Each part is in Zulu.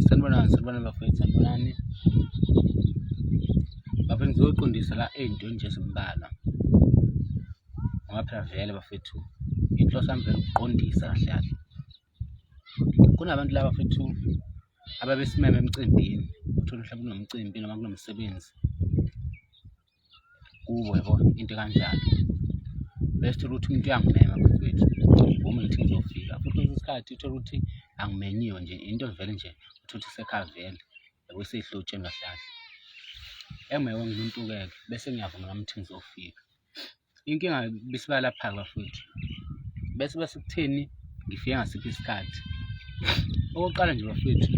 sanibonani sanibonani bafowethu sanibonani bafowethu ngizoqondisa la ey'ntweni nje ezimbalwa ngoba phela vele bafowethu inhloso yami vele ukuqondisa kahle kahle kunabantu laba bafowethu ababesimeme emcimbini uthole mhlawumbe kunomcimbi noma kunomsebenzi kubo yabo into kanjalo bese thola ukuthi umuntu uyangimema futhi wethu ngoma ngithi ngizofika futhi kwesinye isikhathi uthole ukuthi angimenyiwe nje into vele nje uthole ukuthi sekhavele yabo seyihlotsheni kahlahla emewe ngumuntu-ke bese ngiyavuma nami ukuthi ngizofika inkinga bisibalapha-ke futhi bese bese kutheni ngifike ngasiphi isikhathi okokuqala nje bafethu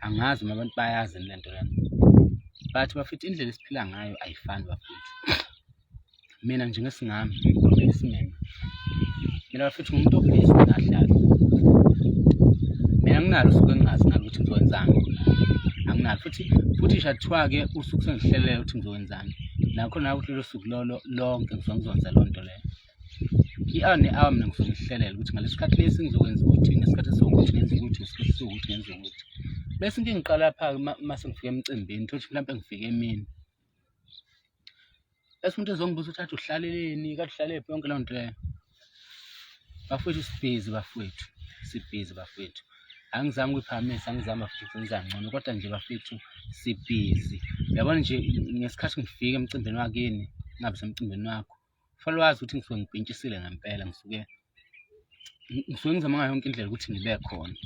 angazi uma abantu bayazi le nto lena but bafethu indlela esiphila ngayo ayifani bafethu mina nje ngesingami ngigomela isimeme mina bafethu ngumuntu obhizi nahlala mina nginalo suke ngingazi nalo ukuthi ngizokwenzani anginalo futhi futhi nje kuthiwa-ke usuke sengihlelele ukuthi ngizokwenzani nami nakho nawe uhlelo suku lolo lonke ngizongizonza loo nto leyo i-hour ne-hour mina ngizongihlelela ukuthi ngaleso sikhathi lesi ngizokwenza ukuthi ngesikhathi esiwukuthi ngenza ukuthi ngesikhathi esiwukuthi ngenza ukuthi bese into engiqala pha-ke uma sengifika emcimbini thothi mhlawumpe ngifike emini bese umuntu ezongibuza ukuthi athi uhlaleleni kade uhlalele yonke loo nto leyo bafowethu sibhizi bafowethu sibhizi bafowethu angizange uyiphakamisa angizama futhi ngenza ngcono kodwa nje bafethu sibhizi yabona nje ngesikhathi ngifika emcimbini wakini ngabe semcimbini wakho fanele wazi ukuthi ngisuke ngipintshisile ngempela ngisuke ngisuke ngizama ngayo yonke indlela ukuthi ngibe khona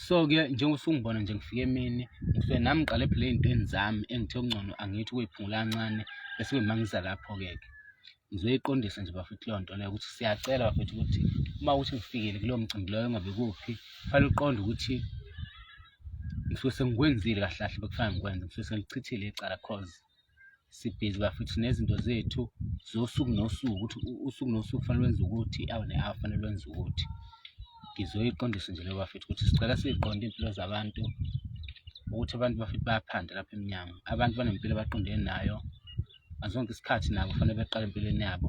so-ke njengoba usungibona nje ngifike emini ngisuke nami ngiqale phela ey'ntweni zami engithe okungcono angithi ukuyiphungula kancane bese kuyima ngiza lapho-ke-ke ngizoyiqondisa nje bafethu leyo nto leyo ukuthi siyacela bafethu ukuthi uma ukuthi ngifikile kulowo mcimbi loyo ngabe kuphi kufanele uqonde ukuthi ngisuke sengikwenzile kahle kahle bekufanele ngikwenze ngisuke sengichithile icala cause sibhizi bafethu nezinto zethu zosuku nosuku ukuthi usuku nosuku kufanele wenze ukuthi awu ne-awu kufanele wenze ukuthi ngizoyiqondisa nje leyo bafethu ukuthi sicela siyiqonde iy'mpilo zabantu ukuthi abantu bafethu bayaphanda lapha emnyango abantu banempilo abaqondene nayo ngaso sonke isikhathi nabo kufanele beqale empilweni yabo